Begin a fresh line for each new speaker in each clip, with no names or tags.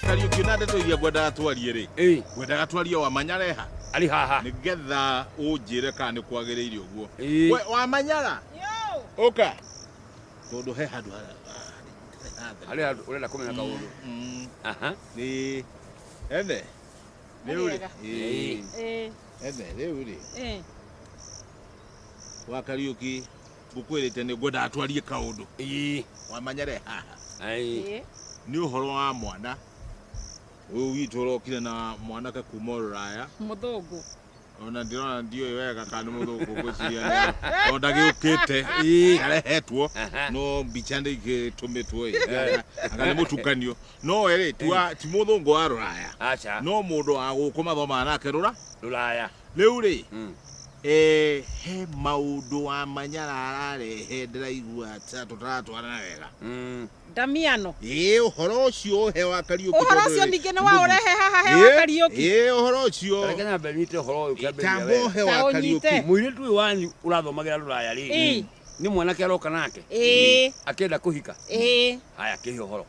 Kariuki na ndeto iria ngwendaga twarie rĩ Ĩ, ngwendaga twarie wa manyareha arĩ haha nĩgetha ũnjĩre kana nĩ kwagĩrĩire ũguo Ĩ. we wa manyara ũka tondũ he handũ hara- harĩ handũ ũrenda kũmenya kaũndũ Mm, aha nĩ ethe rĩu rĩ Wega. Ĩ. Ĩ, ethe rĩu rĩ ĩ. wa Kariuki ngũkwĩrĩte nĩ ngwendaga twarie kaũndũ ii wamanyare haha ai nĩ ũhoro wa mwana ũyũ witũ ũrokire na mwanake kuma rũraya mũthũngũ ona ndĩrona ndiũĩ wega kana nĩ mũthũngũ ngwĩciria nĩ o ndagĩũkĩte ii arehetwo no mbica nĩ igĩtũmĩtwo ĩ anga nĩ mũtukanio no we rĩ ti wa- ti mũthũngũ wa rũraya aca no mũndũ wa gũkũ mathomaga nake rũra rũraya Rĩu rĩ, Mm. eh, he maũndũ wa manyara ararehe ndĩraigua ta- tũtaratwarana wega Mm. ndamiano ĩ ũhoro ũcio ũhe wa kariũki ũhoro tondũ ũcio rĩ, ningĩ nĩ wa ũrehe haha he Ĩ, wa kariũki ĩ ũhoro ũcio Reke nyambe nyite ũhoro ũyũ kĩambĩrĩria tamba wega. ũhe Ta wa ũnyite. kariũki Mũirĩtu ũyũ wanyu ũrathomagĩra rũraya rĩ. Ĩ. Nĩ mwanake aroka nake. Ĩ. Akĩenda kũhika. Ĩ. Haya kĩhe ũhoro.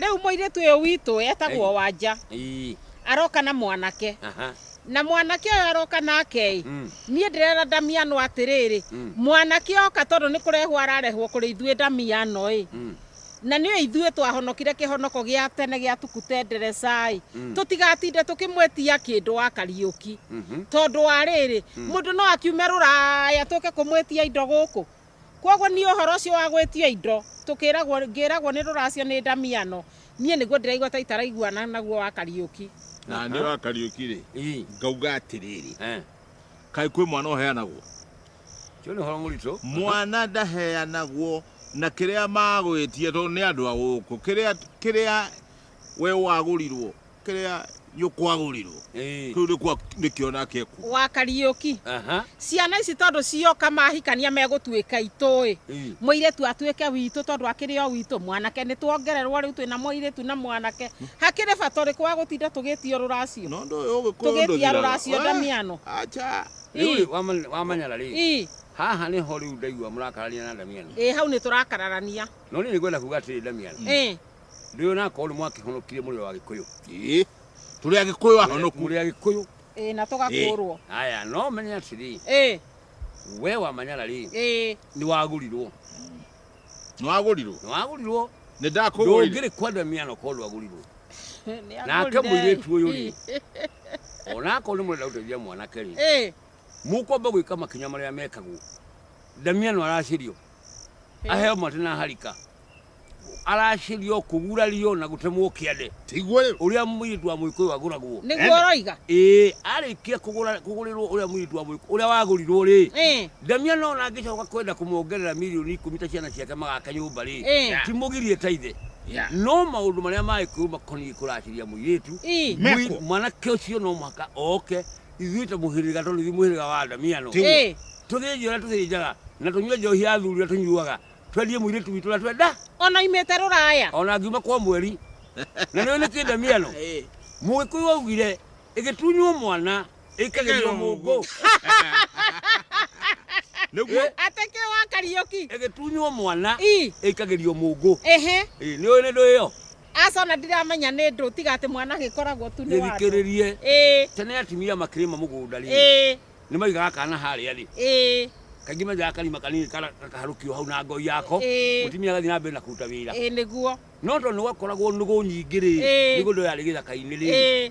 Rĩu mũirĩtu ũyũ witũ etagwo Ĩ. Wanja, Ii. aroka na mwanake. Aha. Na mwanake ũyũ aroka nake-ĩ, Mm. niĩ ndĩrera Damiano atĩrĩrĩ, Mm. mwanake oka tondũ nĩ kũrehwo ararehwo kũrĩ ithuĩ Damiano-ĩ, Mm. na nĩ ithuĩ twahonokire kĩhonoko gĩa tene gĩa tukutendereca-ĩ, Mm. tũtigatinde tũkĩmwĩtia kĩndũ wa Kariũki. Mhm. Tondũ wa rĩrĩ, mũndũ no akiume rũraya tũke kũmwĩtia indo gũkũ, Kwoguo niĩ ũhoro ũcio wa gwĩtio indo tũkĩragwo ngĩragwo nĩ rũracio nĩ ndamiano niĩ nĩguo ndĩraigua ta itaraiguana naguo wa Kariũki. Na nĩ wa Kariũki rĩ Ii. ngauga atĩrĩrĩ Eh. kaĩ kwĩ mwana ũheanagwo Ũcio nĩ ũhoro mũritũ. mwana ndaheanagwo na kĩrĩa magwĩtia tondũ nĩ andũ a gũkũ kĩrĩa kĩrĩa we wagũrirwo kĩrĩa gĩkwagũrirwo Ĩĩ. kĩu nĩkuo nĩkĩo nake ekuo wa kariũki Aha. ciana ici tondũ cioka mahikania megũtuĩka itũĩ Ĩĩ. mũirĩtu atuĩke witũ tondũ akĩrĩ o witũ mwanake nĩ tuongererwo rĩu twĩna mũirĩtu na mwanake hakĩrĩ bata ũrĩkũ wa gũtinda tũgĩtio rũracio no ndũĩ ũgĩkũyũ Tũgĩtia rũracio ndamiano. acha Rĩu Ĩĩ. rĩ, wamanya- wamanyara rĩ Ii, haha nĩho rĩu ndaigua mũrakarania na ndamiano ĩ hau nĩ tũrakararania no niĩ nĩngwenda kuga atĩrĩ ndamiano Ĩ, Nĩ ũyũ nakorwo nĩ mwakĩhonokire mũrĩ o Agĩkũyũ. Ĩĩ. Tũrĩ Agĩkũyũ ahonoku. Mũrĩ Agĩkũyũ. Ĩĩ na tũgakũũrwo. Aya no menye atĩrĩ. Ĩĩ. We wa Manyara rĩ. Ĩĩ. Nĩ wagũrirwo. Nĩ wagũrirwo. Nĩ wagũrirwo. Nĩ ndakũgũrire. Ndũngĩrĩ kwa Damiano korwo ndwagũrirwo. Nake mũirĩtu ũyũ rĩ. Ona akorwo nĩ mũrenda gũteithia mwanake rĩ. Ĩĩ. Mũkwamba gwĩka makinya marĩa mekagwo. Damiano aracĩrio. aheo matĩ na harika aracĩrio kũgurario na gũtemwo kĩande tiguo rĩu ũrĩa mũirĩtu wa mũikũyũ agũragwo nĩguo ũroiga ĩĩ arĩkia kũgũra- kũgũrĩrwo ũrĩa mũirĩtu wa mũikũyũ ũrĩa wagũrirwo rĩ Eh, ndamia no na angĩcoka kwenda kũmongerera mirioni ikũmi ta ciana ciake magaka nyũmba rĩ Eh. timũgirie ta ithe Yeah. no maũndũ marĩa magĩkũyũ makoniĩ kũracĩria mũirĩtu Ii. Mekwo. Mũi- mwanake ũcio no mũhaka oke ithuĩ ta mũhĩrĩga tondũ ithuĩ mũhĩrĩga wa Adamia no Eh, tũthĩnjio ũrĩa tũthĩnjaga na tũnyue njohi ya athuri ũrĩa tũnyuaga twendie mũirĩtu witũ ũrĩa twenda ona imĩte rũraya ona ngiuma kwa mweri na nĩwe nĩ kĩndamiano Eh. mũgĩkũyũ augire ĩgĩtunywo mwana ĩkagerio mũngũ nĩguo atĩ kĩ wa kariũki ĩgĩtunywo mwana i ĩkagerio mũngũ ehe Ĩ, nĩ ũyũ nĩ ndũĩ yo aca ona ndiramenya nĩ ndũ tiga atĩ mwana agĩkoragwo tu nĩ wa andũ. gĩthikĩrĩrie Ĩĩ, tene atumia makĩrĩma mũgũnda rĩ ĩĩ, nĩ maigaga kana harĩa rĩ ĩĩ, kaingĩ menjaga karima kanini kara- gakaharũkio hau na ngoi yako Ĩĩ. mũtumia agathiĩ na mbere na kũruta wĩra ĩĩ nĩguo. no tondũ nĩ gwakoragwo nũgũ nyingĩ rĩ Ĩĩ. mĩgũnda ĩyo yarĩ gĩthaka-inĩ rĩ Ĩĩ.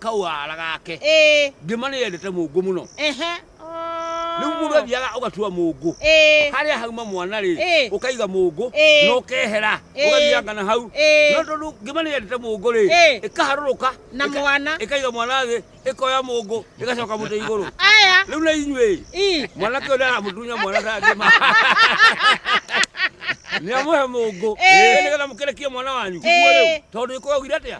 kau ara gake ĩĩ ngĩma nĩ yendete mũngũ mũno ehe rĩu mũndũ athiaga ũgatua mũngũ ĩĩ harĩa hauma mwana rĩ Ĩ. ũkaiga mũngũ Ĩ. na ũkehera Ĩ. ũgathianga na hau Ĩ. no tondũ ngĩma nĩ yendete mũngũ rĩ Ĩ. ĩkaharũrũka Na ĩka- mwana. ĩkaiga mwana thĩ ĩkoya mũngũ ĩgacoka mũtĩ igũrũ aya rĩu na inyuĩ ii mwanake ũrĩa aramũtunya mwana ta ngĩma nĩ amũhe mũngũ Ĩ. nĩgetha mũkĩrekie mwana wanyu Ĩ. Ũguo rĩu, tondũ ĩkũgagire atĩa